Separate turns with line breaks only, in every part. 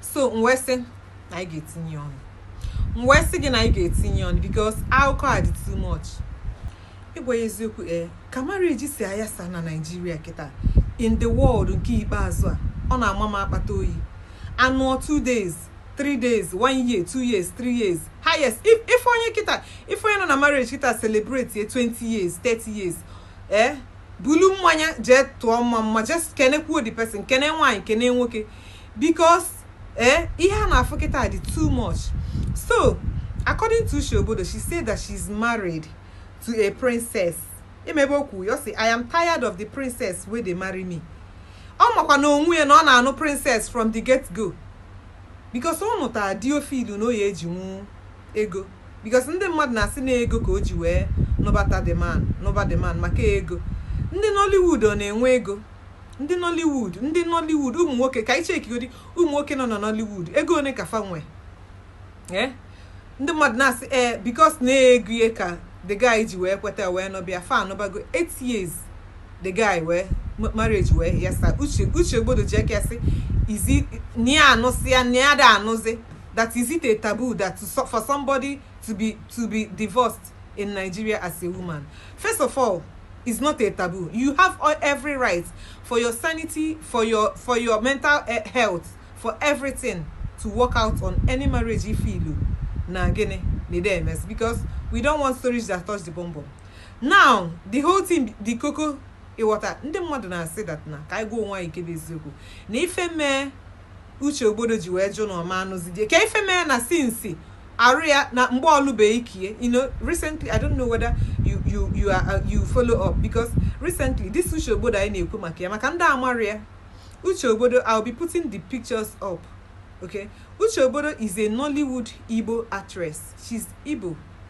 so m wee sị na anyị ga-etinye ọnụ m wee sị gị na anyị ga-etinye ọnụ because akụkọ a dị too much ịgwa gị eziokwu ee ka marriage si ayasa na Nigeria kịta in the world nke ikpeazụ a ọ na-ama m akpata oyi anụọ two days three days one year two years three years highest if if onye kịta if onye nọ na marriage kịta celebrate ye 20 years 30 years ee bulu mmanya jee tụọ mmamma just kenekwuo the person kene nwaanyị kene nwoke because eh ihe a na-afụ kịta dị too much so according to Uche Ogbodo she said that she's married to a princess emebe okwu ya sị I am tired of the princess wey dey marry me ọ makwa na onwe ya na ọ na-anụ princess from the get go because ọ nụtara di ọ feelụ na ọ ya-ejinwu ego because ndị mmadụ na-asị na ego ka o ji wee nụbata the man nụba the man maka ego ndị Nollywood ọ na-enwe ego ndị nollywood ndị nollywood ụmụ nwoke ka anyị checkigodi ụmụ nwoke nọ na nollywood ego one ka fa nwe ee ndị mmadụ na-asị ee eh, because na ego ka the guy ji wee kweta wee nụba ya fa anụbago 8 years the guy wee marriage wee yasa Uche Uche Ogbodo ji aka sịzi na ya anụsịa na ya ada anụzi that is it a taboo that to, for somebody to be to be divorced in Nigeria as a woman. First of all, it's not a taboo. You have all, every right for your sanity, for your for your mental eh, health, for everything to walk out on any marriage if ị feelụ na gị na di emesị because we don't want stories that touch the bumbum. Now the whole thing, the koko, ị ghọta. Ndị mmadụ na-asị that na ka anyị gwa onwe anyị nke bụ eziokwu na ife mee Uche Ogbodo ji wee jụ na ọ ma anụzi di ye ka ife mee na since arụ ya na mgbe ọ lụbe ike ye you know recently I don't know whether you you you are uh, you follow up because recently this Uche Ogbodo anyị na-ekwu maka ya maka ndị amarọ ya Uche Ogbodo I'll be putting the pictures up okay Uche Ogbodo is a Nollywood Igbo actress she's Igbo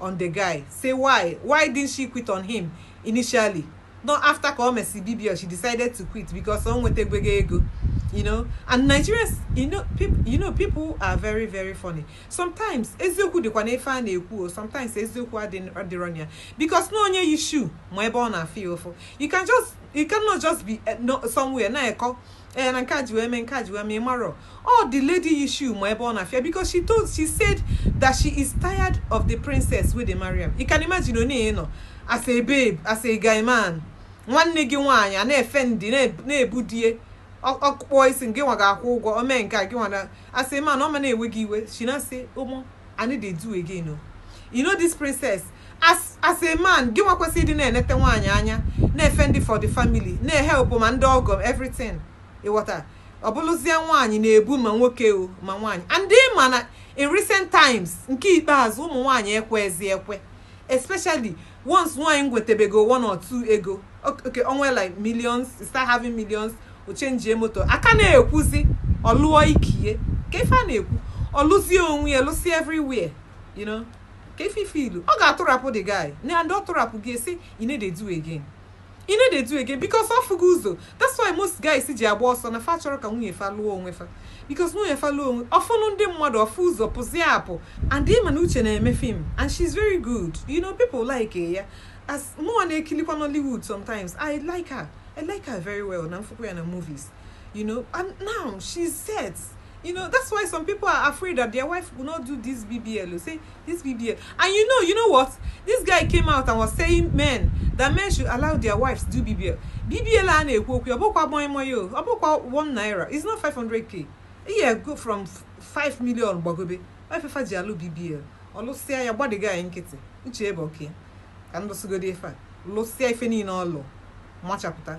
on the guy say why why didn't she quit on him initially not after ka o mesi bbl she decided to quit because o nwetagwo ego you know and nigerians you know people you know people are very very funny sometimes eziokwu dịkwa n'ife a na-ekwu o sometimes eziokwu adị- adịrọ na ya because na onye yi shoe ma ebe ọ na-afụ ya ụfụ you can just you cannot just be eh, nọ somewhere na-ekọ ee na nke a ji wee mee nke a ji wee mee ị marọ ọ the lady yi shoe ma ebe ọ na-afụ ya because she told she said that she is tired of the princess wey dey marry am you can imagine onye nọ as a babe as a guy man nwanne gị nwaanyị a na-efendi na-ebu di ye ọkpụkpọ isi gị nwa ga-akwụ ụgwọ o mee nke a gị nwa na as a man ọ ma na-ewe gị iwe she na say omo i no dey do again o you know this princess as as a man gị nwa kwesịrị ịdị na-enete nwaanyị anya na-efendị for the family na-ehelpụ ma ndị ọgọ everything ị ghọta ọ bụlụzie nwaanyị na-ebu ma nwoke o ma nwaanyị and ị ma na in recent times nke ikpeazụ ụmụ nwaanyị ekwezi ekwe especially once nwaanyị nwetebego one or two ego okay onwe like millions start having millions o chenjie moto a ka na-ekwuzi ọ lụọ ike ya ka ife a na-ekwu ọ lụzie onwe ya lụzie everywhere you know ka if ị feel ọ ga-atụrapụ the guy na and ọ tụrapụ gị a sị I no dey do again I no dey do again because ọ fụgo ụzọ that's why most guys ji agba ọsọ na fa achọrọ ka nwunye fa lụọ onwe fa because nwunye fa lụọ onwe ọ fụnụ ndị mmadụ ọ fụ ụzọ pụzie apụ and ị ma na uche na-eme film and she's very good you know people like ya as mụnwa na-ekilikwa Nollywood sometimes I like her I like her very well na m afụkwa ya na movies you know and now she's set you know that's why some people are afraid that their wife will not do this bbl you say this bbl and you know you know what this guy came out and was saying men that men should allow their wives do bbl bbl a na-ekwu okwu ọ bụkwa gbanye mmanya o ọ bụkwa 1 naira it's not 500k ego from 5 million gbagobe ife fa ji alụ bbl ọ lụsịa ya gba the guy nkịtị uche ebe okay ka m lụsịgodi ife a lụsịa ife niile ọ lụ machapụta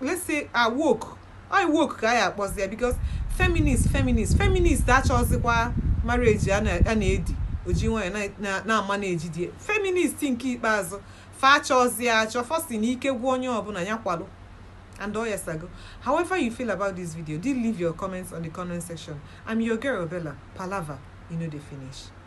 let's say a woke I woke ka anyị kpọzie ya because feminist feminist feminist achọzikwa marriage a na-edi oji nwanyị na-ama na-eji di feminist nke ikpeazụ fa achọzi achọ fa sị na ike gwụ onye ọbụna nya kwalụ and all years ago. However you feel about this video, do leave your comments on the comment section. I'm your girl Bella. Palava e no dey finish.